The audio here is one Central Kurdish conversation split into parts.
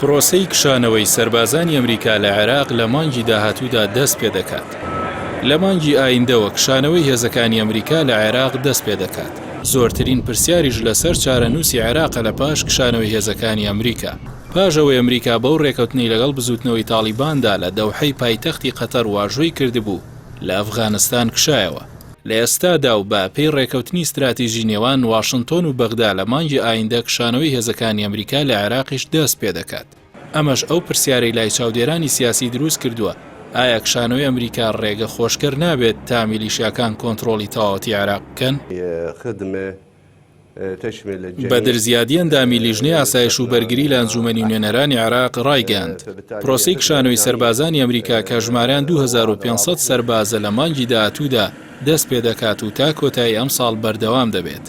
پرۆسەی کشانەوەی سەربازانی ئەمریکا لە عێراق لە مانگی داهاتوودا دەست پێدەکات. لە مانگی ئایندەوە کشانەوەی هێزەکانی ئەمریکا لە عێراق دەست پێدەکات. زۆرترین پرسیاریش لەسەر چارەنووسی عێراقە لە پاش کشانەوەی هێزەکانی ئەمریکا. پاش ئەوەی ئەمریکا بەو رێکەوتنەی لەگەڵ بزووتنەوەی تاڵیباندا لە دەوحەی پایتەختی قەتەر واژۆی کردبوو، لە ئەفغانستان کشایەوە. لە ئێستادا و بە پێی ڕێکەوتنی ستراتیژی نێوان واشنتۆن و بەغدا لە مانگی ئایندە کشانەوەی هێزەکانی ئەمریکا لە عێراقیش دەست پێ دەکات. ئەمەش ئەو پرسیارەی لای چاودێرانی سیاسی دروست کردووە، ئایا کشانەوەی ئەمریکا ڕێگە خۆشکەر نابێت تا میلیشیاکان کۆنتڕۆڵی تەواوەتی عێراق بکەن؟ خدمه بەدر زیادی ئەندامی لیژنەی ئاسایش و بەرگری لە ئەنجومەنی نوێنەرانی عێراق ڕایگەیاند پرۆسی کشانەوەی سەربازانی ئەمریکا کە ژماریان 2500 سەربازە لە مانگی داهاتوودا دەست پێ دەکات و تا کۆتایی ئەم ساڵ بەردەوام دەبێت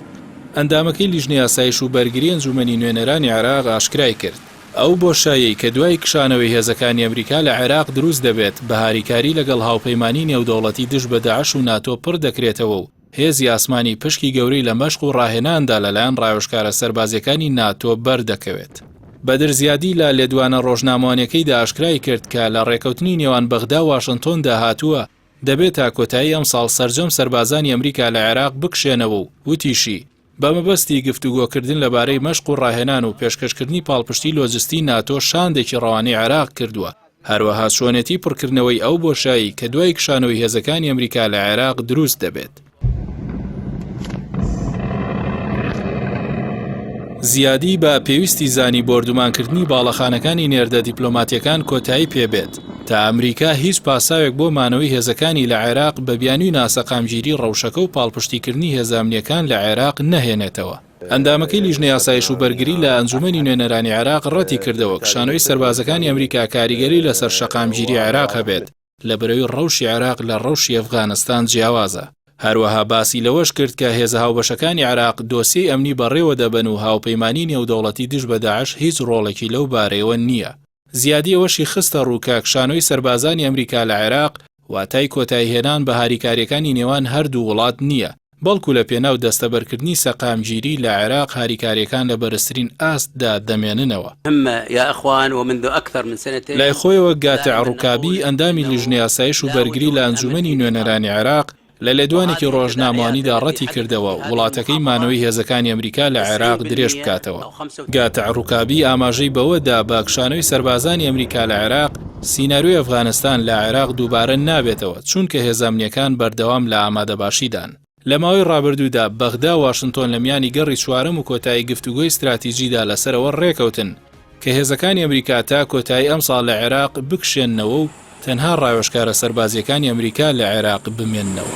ئەندامەکەی لیژنەی ئاسایش و بەرگری ئەنجومەنی نوێنەرانی عێراق ئاشکرای کرد ئەو بۆشایەی کە دوای کشانەوەی هێزەکانی ئەمریکا لە عێراق دروست دەبێت بە هاریکاری لەگەڵ هاوپەیمانی نێودەوڵەتی دژ بە داعش و ناتۆ پڕ دەکرێتەوە و هێزی ئاسمانی پشکی گەورەی لە مەشق و ڕاهێناندا لەلایەن ڕاوێژکارە سەربازییەکانی ناتۆ بەردەکەوێت. بەدر زیادی لە لێدوانە ڕۆژنامەوانییەکەیدا ئاشکرایکرد کە لە ڕێکەوتنی نێوان بەغدا و واشنتۆندا هاتووە دەبێت تا کۆتایی ئەمساڵ سەرجەم سەربازانی ئەمریکا لە عێراق بکشێنەوە و وتیشی، بە مەبەستی گفتوگۆکردن لەبارەی مەشق و ڕاهێنان و پێشکەشکردنی پاڵپشتی لۆجستی ناتۆ شاندێکی ڕەوانەی عێراق کردووە، هەروەها چۆنێتی پڕکردنەوەی ئەو بۆشایی کە دوای کشانەوەی هێزەکانی ئەمریکا لە عێراق دروست دەبێت. زیادی، با پێویستی زانی بۆردومانکردنی باڵەخانەکانی نێردە دیپلۆماتییەکان کۆتایی پێبێت، تا ئەمریکا هیچ پاساوێک بۆ مانەوەی هێزەکانی لە عێراق بە بیانووی ناسەقامگیری ڕەوشەکە و پاڵپشتیکردنی هێزە ئەمنییەکان لە عێراق نەهێنێتەوە. ئەندامەکەی لیژنەی ئاسایش و بەرگری لە ئەنجوومەنی نوێنەرانی عێراق ڕەتی کردەوە کشانەوەی سەربازەکانی ئەمریکا کاریگەری لەسەر شەقامگیری عێراق هەبێت لەبەرەوی ڕەوشی عێراق لە ڕەوشی ئەفغانستان جیاوازە. هەروەها باسی لەوەش کرد کە هێزە هاوبەشەکانی عێراق دۆسیەی ئەمنی بەڕێوە دەبەن و هاوپەیمانیی نێودەوڵەتی دژ بە داعش هیچ ڕۆڵێکی لەو بارەیەوە نییە. زیادی ئەوەشی خستەڕوو کاک شانۆی سەربازانی ئەمریکا لە عێراق واتای کۆتایهێنان بە هاریکارییەکانی نێوان هەردوو وڵات نییە، بەڵکو لە پێناو دەستەبەرکردنی سەقامگیری لە عێراق هاریکارییەکان لە بەرزترین ئاستدا دەمێننەوە. لای خۆیەوە گاتع ڕوکابی، ئەندامی لیژنەی ئاسایش و بەرگری لە ئەنجوومەنی نوێنەرانی عێراق لە لێدوانێکی ڕۆژنامەوانیدا ڕەتیکردەوە وڵاتەکەی مانەوەی هێزەکانی ئەمریکا لە عێراق درێژ بکاتەوە. گاتع ڕوکابی ئاماژەی بەوە دا بە کشانەوەی سەربازانی ئەمریکا لە عێراق، سیناریۆی ئەفغانستان لە عێراق دووبارە نابێتەوە، چوونکە هێزە ئەمنییەکان بەردەوام لە ئامادەباشیدان. لە ماوەی ڕابردوودا بەغدا و واشنتۆن لە میانی گەڕی چوارەم و کۆتایی گفتوگۆی ستراتیجیدا لەسەر ئەوە ڕێکەوتن، کە هێزەکانی ئەمریکا تا کۆتایی ئەمساڵ لە عێراق بکشێننەوە و تەنها ڕاوێژکارە سەربازییەکانی ئەمریکا لە عێراق بمێننەوە.